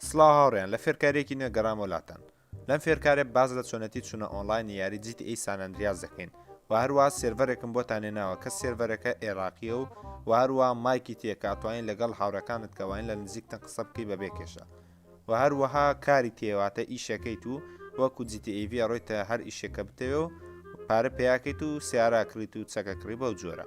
سڵاو هاوڕێیان لە فێرکاریەکی نوێ گەڕامەوە لاتان لەم فێرکارێ باز لە چۆنەتی چونە ئۆنلاینی یاری جیت ئی سانەندریاز دەکەین و هەروە سێرڤەرێکم بۆ تانێ ناوە کە سێرڤەرەکە ئێراقیە و و هەروە مایکی تێکە توانین لەگەڵ هاوڕەکانت کەواین لە نزیکتن قسە بکەی بە بێ کێشە و هەروەها کاری تێواتە ئیشەکەیت و وەکو جیتی ئیڤە ڕۆیتە هەر ئیشێکە بتەوێ و پارە پیاکەیت و سیارە کڕیت و چەکە کڕی بەو جۆرە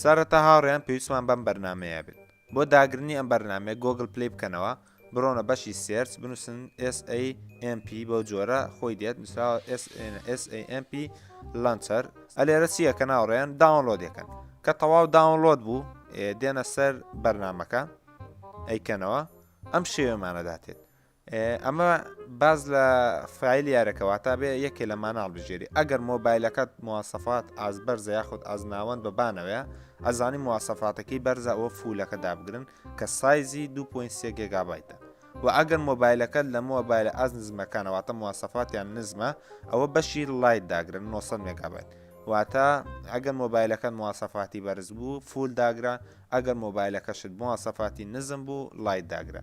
سەرەتا هاوڕێیان پێویستمان بەم بەرنمەیە بێت بۆ داگرنی ئەم بەرنمێ گۆگل پلی بکەنەوە بڕۆنە بەشی سێرچ بنووسن SAMP بۆ جۆرە خۆی دێت نووسراوە SAMP لەنچەر ئەلێرە چییە کە ناوڕێن داونلۆد یەکەن کە تەواو داونلۆد بوو دێنە سەر بەرنمەکە ئەیکەنەوە ئەم شێوێمانەداتێت ئەمە باز لە فیل یارەکە واتا بێ یەکێ لە ماناڵ بژێری ئەگەر مۆبایلەکەت موواسەفات ئاز بەرزە یاخود ئازناوەند بە بانەوەە ئەزانی موواسەفاتەکەی بەرزە ئەوە فولەکە دابگرن کە سایزی 2.3 گگابایتە و ئەگەر مۆبایلەکەت لە مۆبایلە ئاز نزمەکانەوەتە موواسەفاتیان نزمە ئەوە بەشی لایت داگرن 900 مگابایت واتە ئەگەر مۆبایلەکەت موواسەفاتی بەرز بوو فول داگرە ئەگەر مۆبایلەکەشت موواسەفاتی نزم بوو لایت داگرە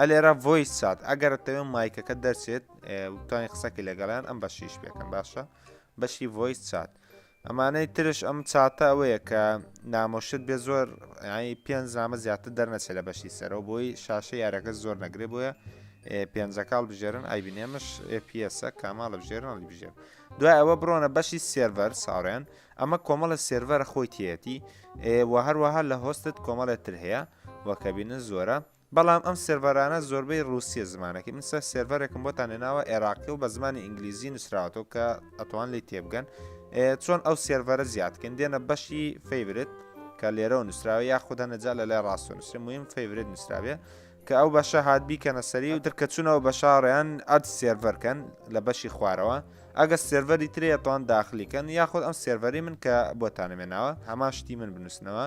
ئەلێرا ڤۆیس چات ئەگەر دەتەوێت مایکەکە دەرچێت توانین قسەکی لەگەڵیان ئەم بەشیش بێکەم باشە بەشی ڤۆیس چات ئەمانەی ترش ئەم چاتە ئەوەیە کە نامۆشت بێ زۆر پێنج نامە زیاتر دەرنەچێت لە بەشی سەرەوە بۆی شاشە یارەکە زۆر نەگرێ بۆیە پێنجەکاڵ بژێرن ئایبینێمش پسە کاماڵ لە بژێرن هەڵی بژێر دوای ئەوە بڕۆنە بەشی سێرڤەر ساڕێن ئەمە کۆمەڵە سێرڤەر خۆی تێتی و هەروەها لە هۆستت کۆمەڵێتر هەیە وەکەبینە زۆرە بەڵام ئەم سێرڤەرانە زۆربەی ڕوسیە زمانەکەی من سەر سێرڤەرێکم بۆتان لێناوە عێراقی و بە زمانی ئینگلیزی نووسراوەتەوە کە ئەتوان لی تێبگەن چۆن ئەو سێرڤەرە زیادکەن دێنە بەشی فیبرت کە لێرەوە نووسراوە یا خودە نەجا لە لای ڕاستۆ نووسێ مهم فیبرت نووسراوێ کە ئەو بەشە هاات بیکەنە سەری و درکە چونەوە بە شاڕیان ئەد سێرڤەرکەن لە بەشی خوارەوە ئەگە سێرڤەری ترێتوان داخلیکەن یاخود ئەم سێرڤەری من کە بۆتانەمێناوە هەمان شتی من بنووسنەوە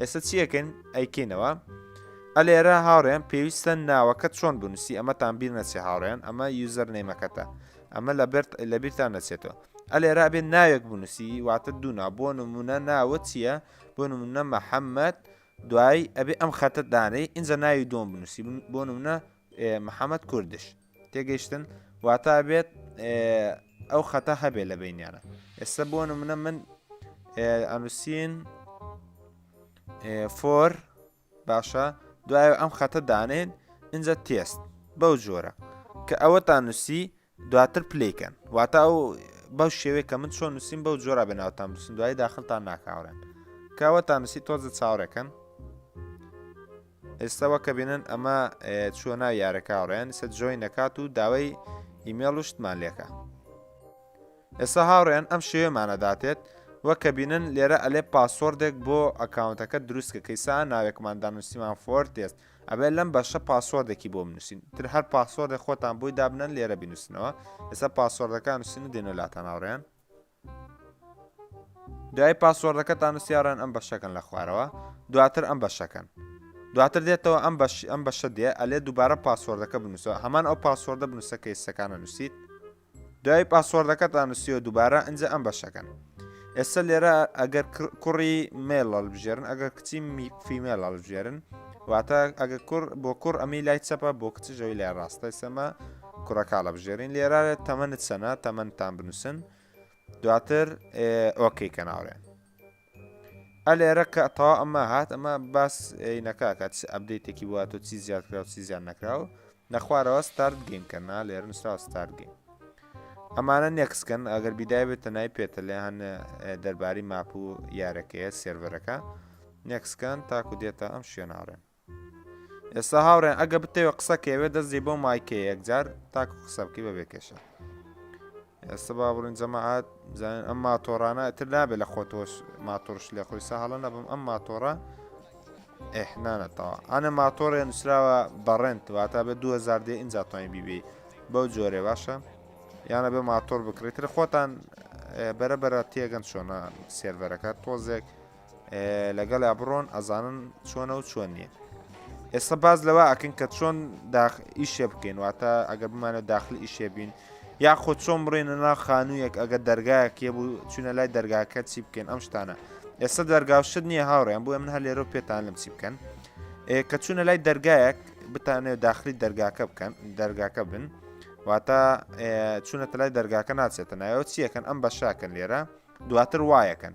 ئێستا چی ئەکەین ئەیکەینەوە ئەلێرە هاوڕێن پێویستە ناوەکە چۆن بنووسی ئەمەتان بیر نەچێ هاوڕێن ئەمە یوزەر نەیمەکەتە ئەمە لە بەرت لە بیرتان نەچێتەوە ئەلێرا بێت ناوێک بنووسی واتە دوونا بۆ نمونە ناوە چییە بۆ نمونە محەممەد دوایی ئەبێ ئەم خەتە دانەی ئینجا ناوی دۆم بنووسی بۆ نمونە محەممەد کوردش تێگەیشتن واتا بێت ئەو خەتە هەبێ لە بینیانە ئێستا بۆ منە من ئەنووسین فۆر باشە دوای ئەم خەتە دانێن اینجا تێست بەو جۆرە کە ئەوەتان نووسی دواتر پلیکەن واتا ئەو بەو شێوەیە کە من چۆن نووسین بەو جۆرا بە ناوتان بسن دوای داخلتان ناکاورن کەوەتان نووسی تۆزە چاوەکەن ئێستا وەکە بینن ئەمە چوە ناو یارەکە ڕێن سە جۆین نەکات و داوای ئیمێڵ و شتمان لێکە ئێستا هاوڕێن ئەم شێوێمانەداتێت وە کە بینن لێرە ئەلێ پاسۆردێک بۆ ئەکاونتەکە دروستکە کەیسا ناوێکمان دانوسیمان فۆر تێست ئەبێت لەم بەشە پاسۆردێکی بۆ منووسین تر هەر پاسۆردە خۆتان بۆی دابنەن لێرە بینوسنەوە ئێستا پاسۆردەکان نووسین و دێنە لاتان هاوڕێن دوای پاسۆردەکەتان نوسیاڕێن ئەم بەشەکەن لە خوارەوە دواتر ئەم بەشەکەن دواتر دێتەوە ئەم بەش ئەم بەشە دێ ئەلێ دووبارە پاسۆردەکە بنووسە هەمان ئەو پاسۆردە بنووسە کە ئێسەکانە نووسیت دوای پاسۆردەکەتان نووسیەوە دووبارە ئەجا ئەم بەشەکەن ئێستا لێرە ئەگەر کوڕی مێڵ بژێرن ئەگەر کچی فیمێڵ بژێرن واتە ئەگە کوڕ بۆ کوڕ ئەمی لای چەپە بۆ کچژەوی لای ڕاستە سەمە کوڕە کاڵە بژێرین لێرە تەمەنت چەنە تەمەندتان بنووسن دواتر ئۆکەی کە ناوێن ئەلێرە کە تا ئەمە هات ئەمە باس نەکاکە چ ئەبدەیتێکی وە تۆ چی زیاد کرا و چی زیان نەکراو نەخوارەوە ستارت گەیم کەنا لێر نووسرا ستار گەیم ئەمانە نێکسکەن ئەگەر بیدای بێتە نای پێتە لە هەن دەرباری ماپ و یارەکەیە سێرڤەرەکە نێکسکان تاکو دێتە ئەم شوێناڕێن ئێستا هاوڕێن ئەگە بتەوێت قسەکەوێت دەستێ بۆ مایکەیە یەکجار تاکو قسە بکەی بە بێکێشە ئێستا با بڕین جەماعات بزانین ئەم ماتۆڕانە تر نابێت لە خۆتۆش ماتۆرش لێ خۆی ساهڵە نەبم ئەم ماتۆڕە ئەحنانەتەوە ئەە ماتۆڕێ نووسراوە بەڕێنت واتە بە 2000 دێ ئینجا توانین بیبی بەو جۆرێ باشە یانە بێ ماتۆر بکرێتتر خۆتان بەرە بەرە تێگەن چۆنە سێرڤەرەکە تۆزێک لەگەڵیا بڕۆن ئەزانن چۆنە و چۆن نییە ئێستا باز لەوە ئەکن کە چۆن ئیشێ بکەین واتە ئەگەر بمانە داخلی ئیشێ بین یا خۆ چۆن بڕێنە نا خانوویەک ئەگە دەرگایەکێ بوو چونە لای دەرگاکە چی بکەین ئەم شتانە ئێستا دەرگاوشت نییە هاوڕێن بۆ من هەر لێرە پێتان لەم چی بکەن کە چوونە لای دەرگایەک بتانێت داخلی دەرگاکە بکەن دەرگاکە بن واتە چونەتە لای دەرگاکە ناچێتە نایەوە چیەکەن ئەم بەشاکەن لێرە دواتر وایەکەن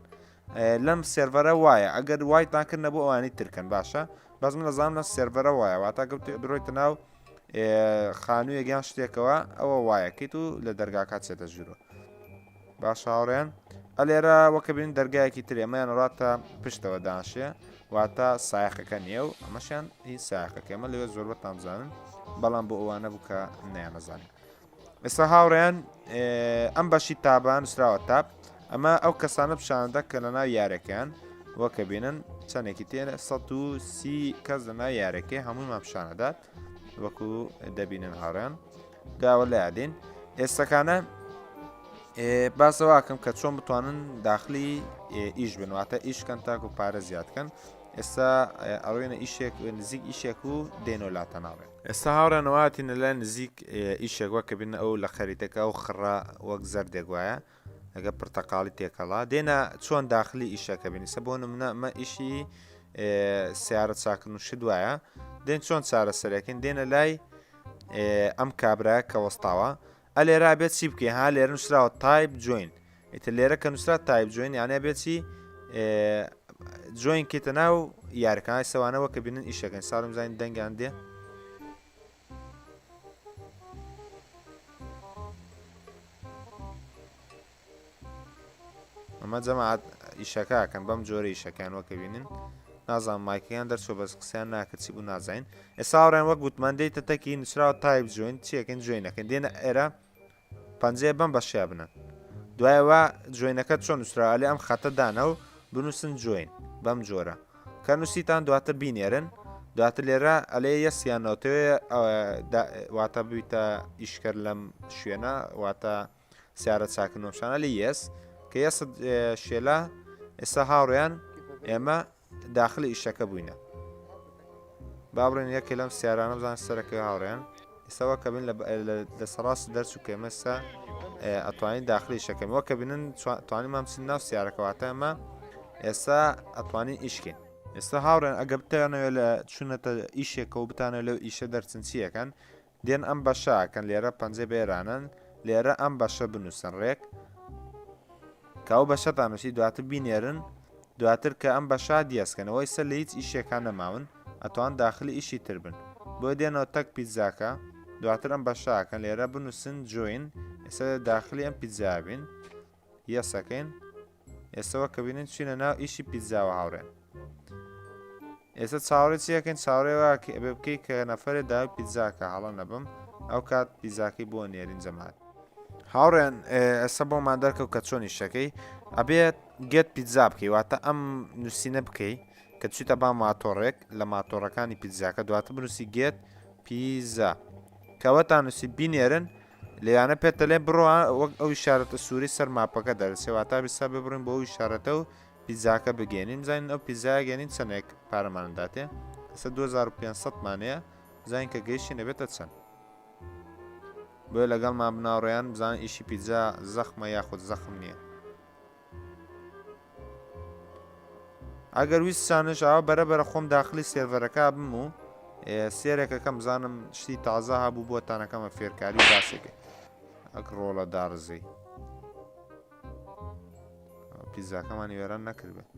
لەم سێرڤەرە وایە ئەگەر وایتان کرد نەبوو ئەوانی ترکەن باشە بەس من دەزانم لە سێرڤەرە وایە واتا گەوت درۆیتە ناو خانوویە گیان شتێکەوە ئەوە وایەکەیت و لە دەرگاکات چێتە ژورۆ باش هاوڕێن ئەلێرە وەکە بین دەرگایەکی ترێمەیان ڕاتە پشتەوە داشێ واتە سایقەکە نییە و ئەمەشیان هی ساقەکەمە لەوێ زۆربەتان بزانن بەڵام بۆ ئەوانە بوو کە نیانەزانین ئێستا هاوڕێیان ئەم بەشی تابان نووسراوە تاب ئەمە ئەو کەسانە پیششاندا کە لە ناو یارەکەیان وەکە بینن چەندێکی تێنە 130 کەس لە ناو یارەکەی هەمووی ماپشانەدات وەکو دەبینن هاڕێن داوە لە یادین ئێستەکانە باسەواکەم کە چۆن بتوانن داخلی ئیش بنواتە ئیشکەن تاکو پارە زیادکەن ئێستا ئەوێنە ئیشێک نزیک ئیشێک و دێنۆ لاتە ناوێت ئێستا هاوڕێیان ئەوە هاتینە لای نزیک ئیشێک وە کە بینە ئەو لە خەریتەکە ئەو خڕە وەک زەردێک وایە ئەگە پرتەقاڵی تێکەڵا دێنا چۆن داخلی ئیشەکە بینیسە بۆ نمونە ئەمە ئیشی سیارە چاکن و شت وایە دێن چۆن چارەسەرەکەین دێنە لای ئەم کابراە کە وەستاوە ئەلێرا بێت چی بکەین ها لێرە نووسراوە تایپ جوین ئیتر لێرە کە نووسرا تایپ جوین یانە بێتی جوین کێتە ناو یارکان سەوانەوە کە بینن ئیشەکەن ساڵم زانین دەنگیان دێ ئەمە جەماعەت ئیشەکەکەن بەم جۆرە ئیشەکەیان وەکە بینن نازان مایکەکان دەرچۆ بەس قسەیان ناکرد چی بوو نازین ئێساڕێن وەک گوتمان دێتە تەکی نووسراوە تایب جوین چیەکەن جوێنەکەن دێنە ئێرە پەنجەیە بم بەشیا بنە دوایەوە جوێنەکە چۆن نووسرالی ئەم خەتە دانە و بنووسن جوین بەم جۆرە کە نووسیتان دواتر بینێرن دواتر لێرە ئەلێ یەسیان ناوتەوێ واتە بوویتە ئیشکرد لەم شوێنە واتە سیارە چاکنۆشانە لە یەس کە یە شێلا ئێستا هاوڕیان ئێمە داخلی ئیشەکە بووینە با بڵێن یەکێ لەم سیارانە بزان سەرەکە هاوڕێن ئێستاوە کە بن لە سەڕاست دەرچ و کێمەستا ئەتوانین داخلی شەکەمەوە کە بنن توانی مامسن ناو سیارەکەواتە ئەمە ئێستا ئەتوانین ئیشکین ئێستا هاوڕێن ئەگە بتانەوێت لە چونەتە ئیشێکە و بتانە لەو ئیشە دەرچنچیەکەن دێن ئەم بەشە ئەکەن لێرە پەنجە بێرانن لێرە ئەم بەشە بنووسن ڕێک کە ئەو بەشەتان نووسی دواتر بینێرن دواتر کە ئەم بەشا دیێسکەنەوەی سەر لە هیچ ئیشێکان نەماون ئەتوان داخلی ئیشی تر بن بۆ دێنەوە تەک پیتزاکە دواتر ئەم بەشاکەن لێرە بنووسن جوین ئێستا داخلی ئەم پیتزابین یەس ئەکەین ئێستەوە کە بینین چینە ناو ئیشی پیتزاوە هاوڕێن ئێستا چاوەڕێ چیەکەین چاوەڕێوە کە ئەبێ بکەی کە نەفرێ داوای پیتزاکە هەڵە نەبم ئەو کات پیزاکەی بۆ نێرین جەمات هاوڕێن ئەسە بۆمان دەرکەوت کە چۆنی شەکەی ئەبێت گێت پیتزا بکەی واتە ئەم نووسینە بکەی کە چیتە با ماتۆڕێک لە ماتۆڕەکانی پیتزاکە دواتە بنووسی گێت پیزا کەوەتان نووسی بینێرن لێیانە پێت دەلێن بڕۆ وەک ئەو شارەتە سووری سەر ماپەکە دەرسێ واتا بیسا ببڕین بۆ ئەوی شارەتە و پیزاکە بگەێنین زانین ئەو پیزاگەێنین چەندێک پارەمانداتێ ئەستا 2500 مانەیە زانین کە گەیشتی نەبێتە چەند بۆیە لەگەڵمان بناڕێیان بزان ئیشی پیزا زەخمە یاخود زەخم نییە ئەگەر ویستانش ئاوا بەرە بەرە خۆم داخلی سێرڤەرەکە بم و سێرێکەکەم زانم شتی تازە هەبوو بۆ تانەکەمە فێرکاری و باسێک ئەک ڕۆڵە داڕزەی پیزاکەمانی وێران نەکردێت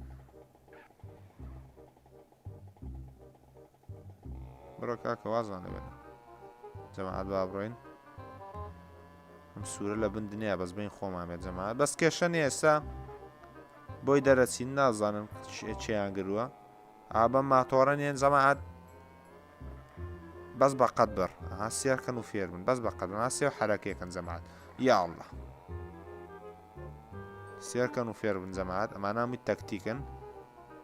بڕۆ کاکە وازمان لێ بێنە جەماعەت با بڕۆین ئەم سوورە لە بن دنیا بەس بین خۆمان بێت جەماعەت بەس کێشە نیە ئێستا بۆی دەرەچین نازانم چیان گرووە ئابە ماتۆڕە نیەن جەماعەت بەس بە قەت بڕ هاسیارکەن و فێر من بەس بە قەت ناسی و حرەکەکەن جەماعەت یا الله سێرکەن و فێر بن جەماعەت ئەمانە هەمووی تەکتیکن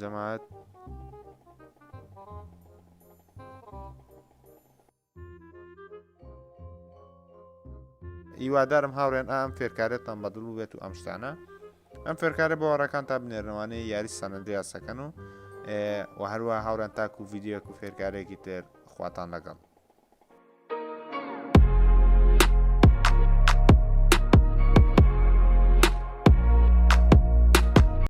جەماعەت هیوادارم هاوڕێن ئام فێرکارێتان بەدڵ بێت و ئەم شتانە ئەم فێرکارە باوەڕەکان تا بنێرنەوانەی یاری سەنەندریاسەکەن و و هەروە هاوڕێن تاکو و ویددیوەک و فێرکارێکی تر خواتان لەگەڵ